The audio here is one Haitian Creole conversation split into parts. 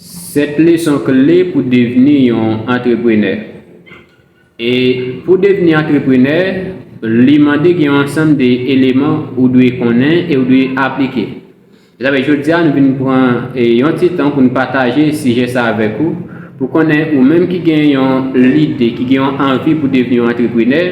7 leson kle pou devni yon antreprenè E pou devni antreprenè, li mande gen yon ansanm de eleman ou dwe konnen e ou dwe aplike. Se sa fè jodi a nou vin pran yon ti tan pou nou pataje sijè sa avèk ou, pou konnen ou menm ki gen yon lide, ki gen yon anvi pou devni yon antreprenè,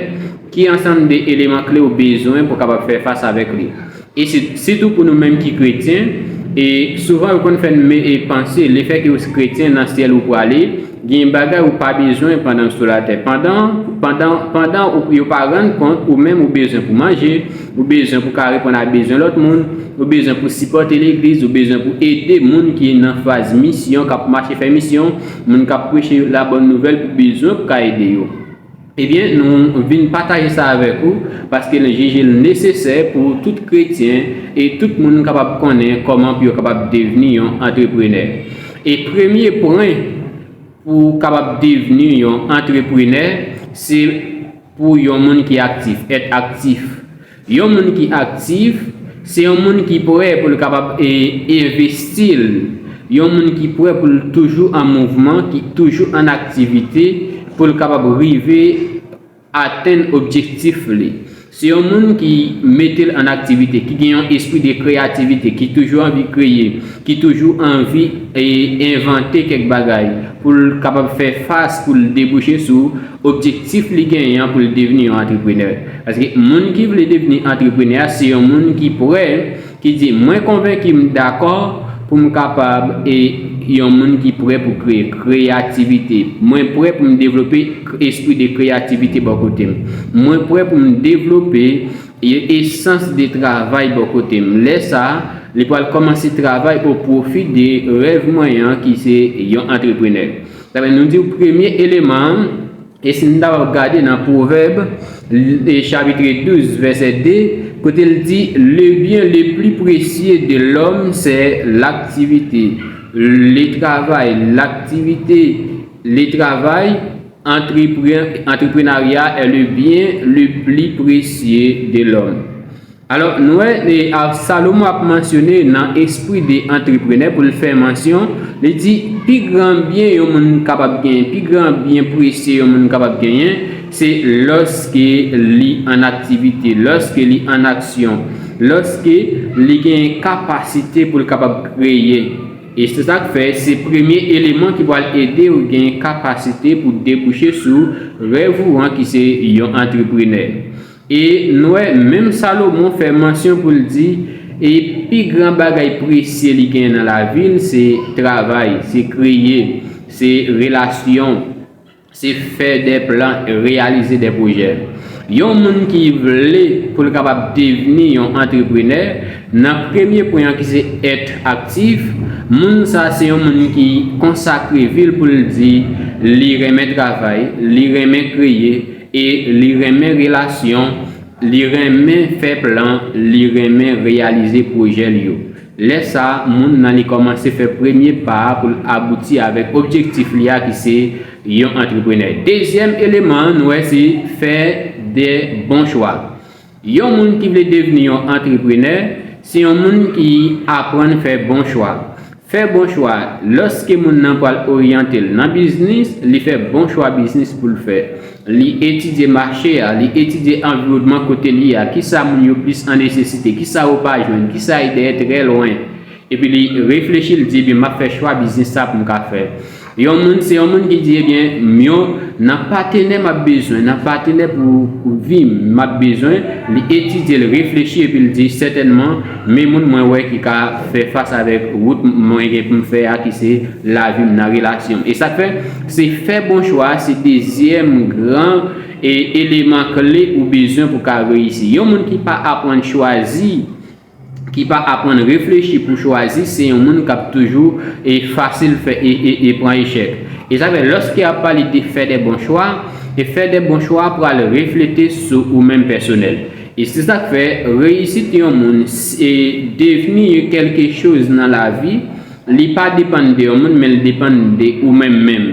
ki ansanm de eleman kle ou bezwen pou w kapab fè fas avèk li. E sitou pou nou menm ki kretyen, e souvan yo konn fè n panse lefèke ou kretyen nan syèl ou prale, gen bagay ou pa bezwen pandan ou sou latè. Pandan, pandan, pandan ou yo pa rann kont ou menm ou bezwen pou manje, ou bezwen pou ka reponn a bezwen lòt moun, ou bezwen pou sipòte legliz, ou bezwen pou ede moun ki nan faz misyon, k ap mache fè misyon, moun k ap preche labòn nouvèl pou bezwen pou ka ede yo. Ebyen, nou vin pataje sa avèk ou, paske nou jije l nesesè pou tout kretyen e tout moun kapab konnen kòman pou yo kapab devni yon antreprenè. E premye pwen pou w kapab devni yon antreprenè, se pou yon moun ki aktif, èt aktif. Yon moun ki aktif, se yon moun ki prè pou l kapab envesti l, yon moun ki prè pou l toujou an mouvman, ki toujou an aktivite pou l kapab rive atenn objektif li. Se yon moun ki mete l an aktivite, ki gen yon espri de kreyativite, ki toujou anvi kreye, ki toujou anvi envante kèk bagay pou l kapab fè fas, pou l debouche sou. Objektif li genyen an pou l devni yon antreprenè. Paske moun ki vle devni antreprenè a se yon moun ki prè, ki di mwen konvenki m dakò pou m kapab e yon moun ki prè pou kreye, kreyativite. Mwen prè pou m devlope espri de kreyativite bò kote m. Mwen prè pou m devlope yon esans de travay bò kote m. Lè sa a, li pral kòmanse travay o pwofi de rèv mwen an ki se yon antreprenè. Ebyen nou diw premye eleman an e si nou ta pral gade nan pwovèb chapitre 12 vèsè 2 kote l di le byen le pli presye de lòm sè laktivite le travay laktivite le travay antreprenarya è le byen le pli presye de lòm. Alò, nou wè Absalomo ap mansyone nan espri de antreprenè pou l fè mansyon, li di, Pi gran byen yon moun kapab genyen, pi gran byen presye yon moun kapab genyen, se lòske li an aktivite, lòske li an aksyon, lòske li genyen kapasite pou l kapab kreye. E se sa k fè se premye eleman ki pral ede w genyen kapasite pou debouche sou rèv ou an ki se yon antreprenè. E n wè menm Salomon fè mansyon pou l di, E pi gran bagay presye li gen nan lavi l se travay, se kreye, se relasyon, se fè de plan, reyalize de pwojè. Yon moun ki vle pou l kapab devni yon antreprenè, nan premye pwen an ki se èt aktif, moun sa se yon moun ki konsakre vi l pou l di li renmen travay, li renmen kreye, E li renmen relasyon, li renmen fè plan, li renmen reyalize pwojè l yo. Lè sa, moun nan li kòmanse fè premye pa a pou l abouti avèk objektif li a ki se yon antreprenè. Dezyèm eleman an nou wè se fè de bon chwa. Yon moun ki vle devni yon antreprenè se yon moun ki aprann fè bon chwa. Fè bon chwa, Lòske moun nan pral oryante l nan biznis, li fè bon chwa biznis pou l fè. Li etidye mache a, li etidye anviwònman kote li a, kisa moun yo plis an nesesite, kisa yo pa jwenn, kisa e dèyè trè lwen. Epi li reflechi li di ebyen map fè chwa biznis sa poum ka fè yon moun se yon moun ki di ebyen m yon nan patenè map bezwen nan patenè pou vim map bezwen li etidye li reflechi epi li di sètènman me moun mwen wè ki ka fè fas avèk wout mwen gen poum fè a ki se lavim nan relasyonm e sak fè se fè bon chwa se dezyèm gran eleman kle ou bezwen pou ka reyisi yon moun ki pa aprann chwazi ki pa aprann reflechi pou chwazi se yon moun kap toujou e fasil fè e pran echèk e sa fè lòske ap pale de fè de bon chwa e fè de bon chwa pral reflete sou ou menm pèsonèl e se sak fè reyisit yon moun e devni yon kelke choz nan lavi li pa depann de yon moun men li depann de ou menm menm.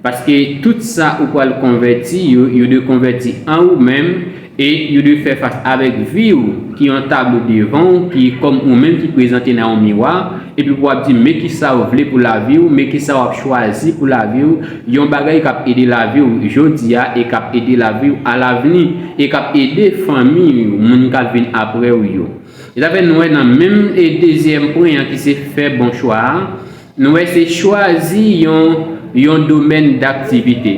Paske tout sa ou pral konvèti yo, yo dwe konvèti an ou menm, e yo dwe fè fas avèk vi ou, ki yon tablo devan ou, ki kòm ou menm ki prezante nan yon miwa, epi pou w ap di, men kisa ou vle pou lavi ou, men kisa w ap chwazi pou lavi ou, yon bagay k ap ede lavi ou jodi a, e k ap ede lavi ou alavni, e k ap ede fanmi ou, moun k ap vin apre ou yo. Etan fè nou wè nan menm dezyèm pwen an ki se fè bon chwa a, Nou wè se chwazi yon yon domèn daktivite.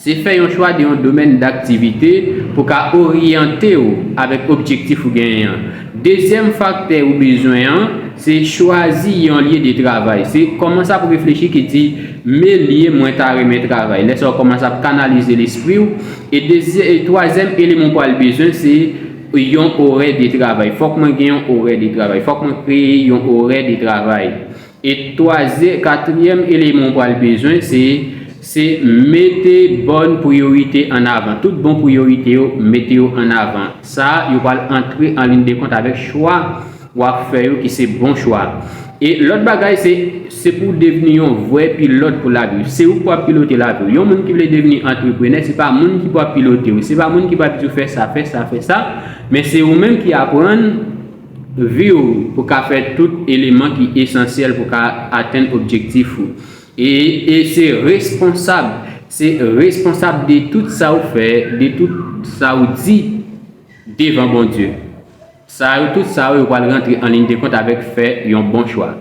Se fè yon chwa de yon domèn daktivite pou ka oryante ou avèk objektif ou genyen an. Dezyèm faktè ou bezwen an, se chwazi yon lye de travay. Se kòmanse ap reflechi ki di, me lye mwen ta renmen travay. Lè sa ou kòmanse ap kanalize lespri ou. E twazèm eleman ou pral bezwen se. Yon orè de travay. Fòk mwen gen yon orè de travay. Fòk mwen kreye yon orè de travay. E twazyè, katriyèm eleman ou pral bezwen se, se mete bòn priyorite an avan. Tout bon priyorite yo, mete yo an avan. Sa a, yo pral antre an lin de kont avèk chwa. wap fè yo ki se bon chwa e lòt bagay se se pou w devni yon vrè pilòt pou lavi w se ou ki pou ap pilote lavi w yon moun ki vle devni antreprenè se pa moun ki pou ap pilote w se pa moun ki pou ap di w fè sa fè sa fè sa men se ou menm ki aprann vi w pou ka fè tout eleman ki esansyèl pou ka atenn objektif ou e e se responsab se responsab de tout sa w fè de tout sa w di devan Bondye. Sa yo tout sa yo pral rantre an liy de kont avèk fè yon bon chwa.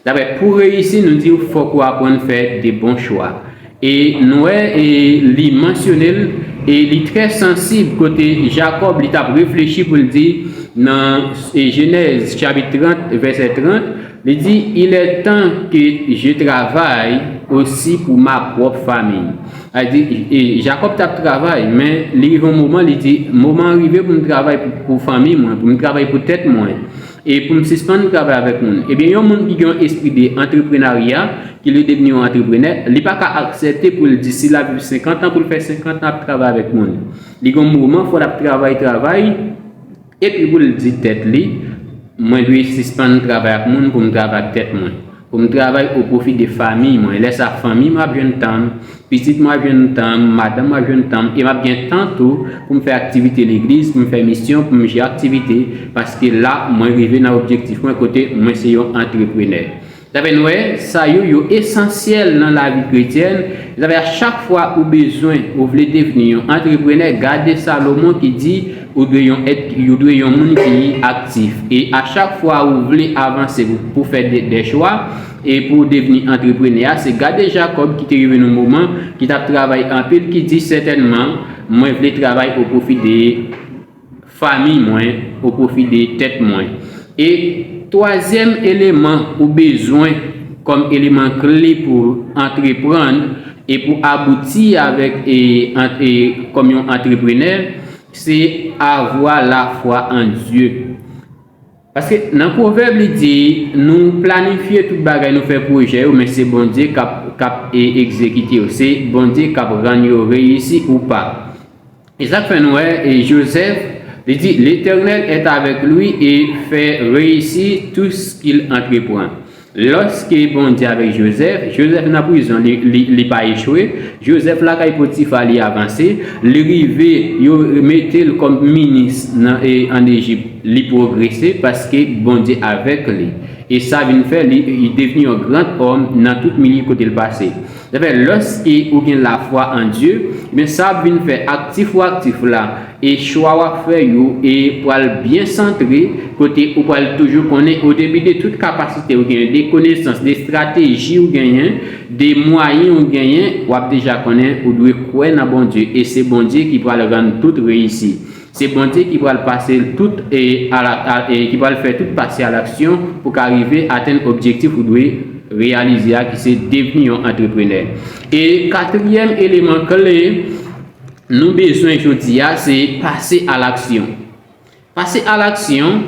Daprè pou reyisi nou diw fòk ou aprann fè de bon chwa. E nou wè e li mansyonel e li trè sansib kote Jakòb li tap reflechi poul di nan Jenèz chapit 30 vèsè 30, Li di, Il est temps que je travaille aussi pour ma propre famille. Al di, Jakòb t ap travay, men li rive yon moman, li di, Moman an rive pou m travay pou fanmi mwen, pou m travay pou tèt mwen, e pou m sispann travay avèk moun. Ebyen, yon moun ki gen yon espri de antreprenarya, ki vle devni yon antreprenè, li pa ka aksepte pou l di si l ap viv senkantan, pou l fè senkantan ap travay avèk moun. Li gen yon moman, fò l ap travay, travay. Epi pou l di tèt li, Mwen dwe sispann travay ak moun pou m travay ak tèt mwen, pou m travay o pwofi de famiy mwen. Lè sa a, fanmiy mwen ap jwenn tan m, pitit mwen ap jwenn tan m, madanm mwen ap jwenn tan m, e m ap gen tan tou pou m fè aktivite legliz, pou m fè misyon, pou m jè aktivite, paske la mwen rive nan objektif mwen kote mwen se yon antreprenè. Zafè nwè sa yo, yo esansyèl nan lavi kretyèn. Zafè a chak fwa ou bezwen, ou vle devni yon antreprenè, gade Salomon ki di, ou dwe yon èt, ou dwe yon moun ki aktif. E a chak fwa ou vle avanse pou fè dè chwa, e pou devni antreprenè a, se gade Jakòb ki te rive yon moman, ki t ap travay anpil, ki di, sètènman, mwen vle travay o pwofi de. famiy mwen, ou pwofide tèt mwen. E twazyèm eleman ou bezwen kòm eleman kle pou antreprann e pou abouti avèk kòm yon antreprenè, se avwa lafwa an Dye. Paske nan pwovèb li di nou planifye tout bagay nou fè pwojè yo men se Bondye kap kap egzekite yo se Bondye kap rann yo reyisi ou pa esak fè nou wè Joseph li di L'Eternel est avec lui et fè reyisi tout skil antrepran. Lòske Bondye avèk Jozèf, Jozèf nan prizon li pa echwe, Jozèf lakay Potifa li avanse, li rive yo mete l kòm minis an Ejip li pwogrese paske Bondye avèk li e sa vin fè li devni yon gran òm nan tout milye kote l pase. Ebyen lòske ou gen lafwa an Dye, ebyen sa ap vin fè aktif ou aktif la e chwa wap fè yo e pral byen santre kote ou pral toujou konnen odepi de tout kapasite ou genyen, de konesans, de estrateji ou genyen, de mwayen ou genyen, wap deja konnen ou dwe kwè nan Bondye e se Bondye ki pral rann tout reyisi. Se Bondye ki pral pase l tout e ki pral fè tout pase a laksyon pou ka rive atenn objektif ou dwe reyalize a ki se devni yon antreprenè. E katriyèm eleman kle nou bezwen jodi a se pase a laksyon. Pase a laksyon.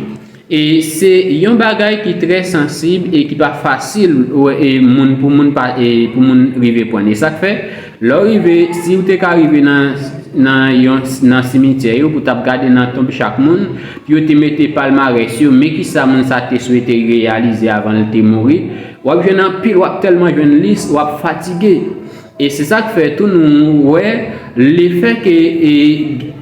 E se yon bagay ki trè sansib e ki pa fasil moun pou moun pa pou moun rive pwann. E sa k fè, lè w rive, si w te ka rive nan nan yon nan simityè yo pou w t ap gade nan tonb chak moun, pou yo te mete palmarès yo, men ki sa moun sa te swete reyalize avan l te mouri, w ap jwenn anpil, w ap tèlman jwenn lis, w ap fatige. E se sa k fè tou nou wè lefè ke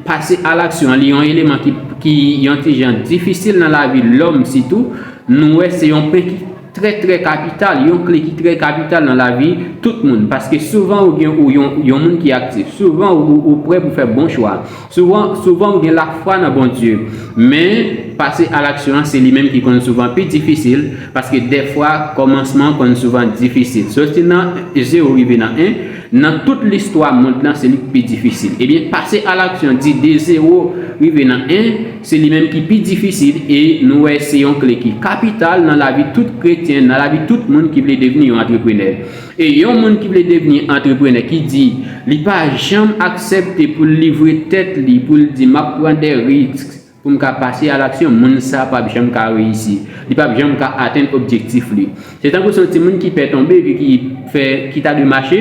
pase alaksyon an li yon eleman ki yon ti jan difisil nan lavi lòm sitou, nou wè se yon pwen ki trè trè kapital, yon kle ki trè kapital nan lavi tout moun. Paske souvan ou gen yon moun ki aktif, souvan ou prè pou fè bon chwa. Souvan, souvan ou gen lafwa nan Bondye, men pase alaksyon an se li menm ki konn souvan pi difisil, paske dèfwa kòmansman an konn souvan difisil. Soti nan zewo rive nan 1, nan tout listwa mond lan se li ki pi difisil. Ebyen, pase alaksyon di de zewo rive nan 1, se li menm ki pi difisil e nou wè se yon kle ki kapital nan lavi tout kretyen, nan lavi tout moun ki vle devni yon antreprenè. E yon moun ki vle devni antreprenè ki di li pa janm aksepte pou l livre tèt li pou l di map pran des risques pou m ka pase a l'action moun sa pap janm ka reyisi li pap janm ka atenn objektif li se tankou son ti moun ki pè tonbe epi ki fè ki ta dwe mache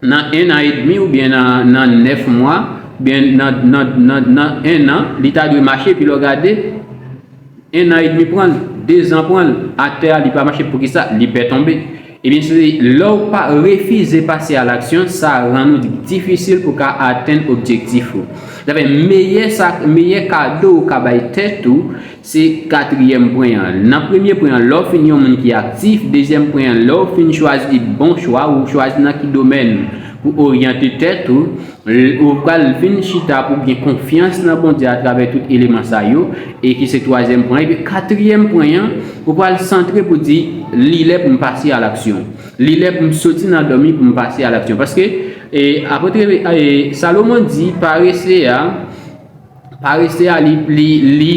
nan 1 an edmi oubyen nan nan 9 mwa oubyen nan nan nan 1 an li ta dwe mache epi lè w gade 1 an edmi pranl, 2 zan pranl, aktè a li pa mache poukisa li pè tonbe. Ebyen se lèw pa refize pase a laksyon sa rann ou difisil pou ka atenn objektif ou. Sa fè meyè sa meyè kado ou ka bay tèt ou se katriyèm pwen an. Nan premye pwen an lèw fin yon moun ki aktif, dezyèm pwen an lèw fin chwazi bon chwa ou chwazi nan ki domèn pou oryante tèt ou, Ou pral vin chita pou gen konfyans nan Bondye atravè tout eleman sa yo, e ki se twazyèm pwen. Epi katriyèm pwen an, ou pral santre pou di, Li lè pou m pase alaksyon. Li lè pou m soti nan dòmi pou m pase alaksyon. Paske, Apotre Salomon di, parese a. Parese a li li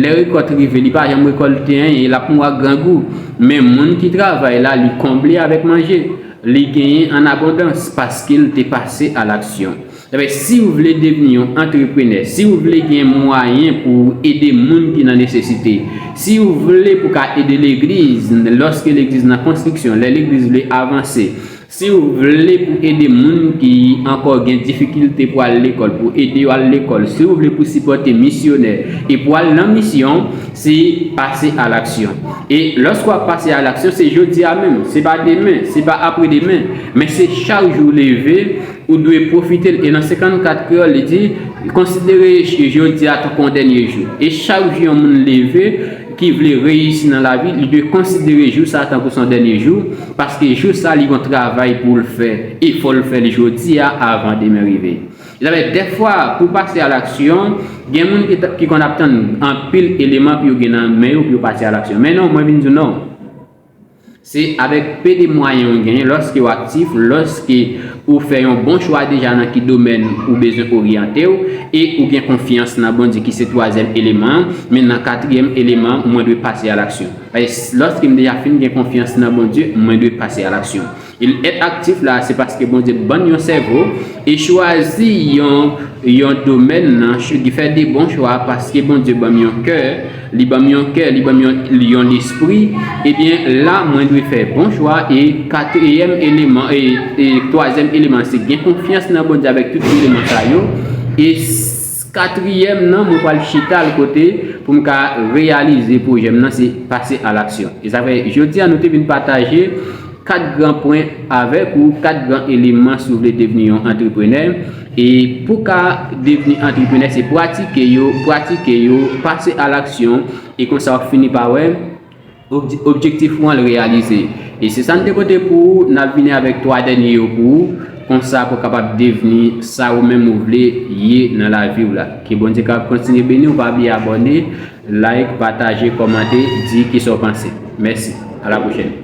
lè rekòt rive li pa janm rekòlte anyen e lap mou ak grangou men moun ki travay la li konble avèk manje li genyen an abondans paskel te pase a laksyon ebyen siw vle devni yon antreprenè siw vle gen mwayen pouw ede moun ki nan nesesite siw vle pou ka ede legliz lòske legliz nan konstriksyon lè legliz vle avanse Siw vle pou ede moun ki ankò gen difikilte pou al lekòl pou ede yo al lekòl siw vle pou sipòte misyonè e pou al nan misyon se pase a laksyon e lòske wap pase a laksyon se jodia menm se pa demen se pa apre demen men se chak jou ou leve ou dwe pwofitel e nan 54 kreyòl li di konsidere jodia tankou yon dènye jou e chak jou yon moun leve ki vle reyisi nan lavi li dwe konsidere jou sa tankou son dènye jou. Paske jou sa li gon travay poul fè e fòl fèl jodia avan demen rive. Javè dèfwa pou pase a laksyon gen moun ki konn ap tann anpil eleman pou yo gen nan men yo pou yo pase a laksyon. Men non mwen vin diw non. Se avèk pe de mwayen ou genyen lòske ou aktif, lòske ou fè yon bon chwa deja nan ki domèn ou bezwen oryantew e ou gen konfyans nan Bondye ki se twazyèm eleman an, men nan katryèm eleman an mwen dwe pase a laksyon. Lòske m deja fin gen konfyans nan Bondye, mwen dwe pase alaksyon. Èt aktif la a se paske Bondye ban n yon sèvo e chwazi yon domèn nan fè de bon chwa paske Bondye ban m yon kè, li ban m yon kè, li ban m yon lespri, ebyen la mwen dwe fè bon chwa e katriyèm eleman e twazyèm eleman se gen konfyans nan Bondye avèk tout eleman sa yo e Katriyèm nan mwen pral chita l kote pou m ka reyalize pwojè m nan se pase a laksyon. E sa fè jodi a nou te vin pataje 4 gran pwen avèk ou, 4 gran eleman si w vle devni yon antreprenè. E pou w ka devni antreprenè se pratike yo, pratike yo, pase a laksyon e konsa w ap fini pa wè. Objektif ou an l reyalize. E se sa n te pote pou ou, n ap vini avèk 3 dènye yo pou ou, konsa pou w kapab devni sa ou menm ou vle ye nan lavi w la. Ke Bondye kapab kontinye beni w, pa bliye abòne, like, pataje, kòmante, di kisa w panse. Mèsi. A la pwochèn.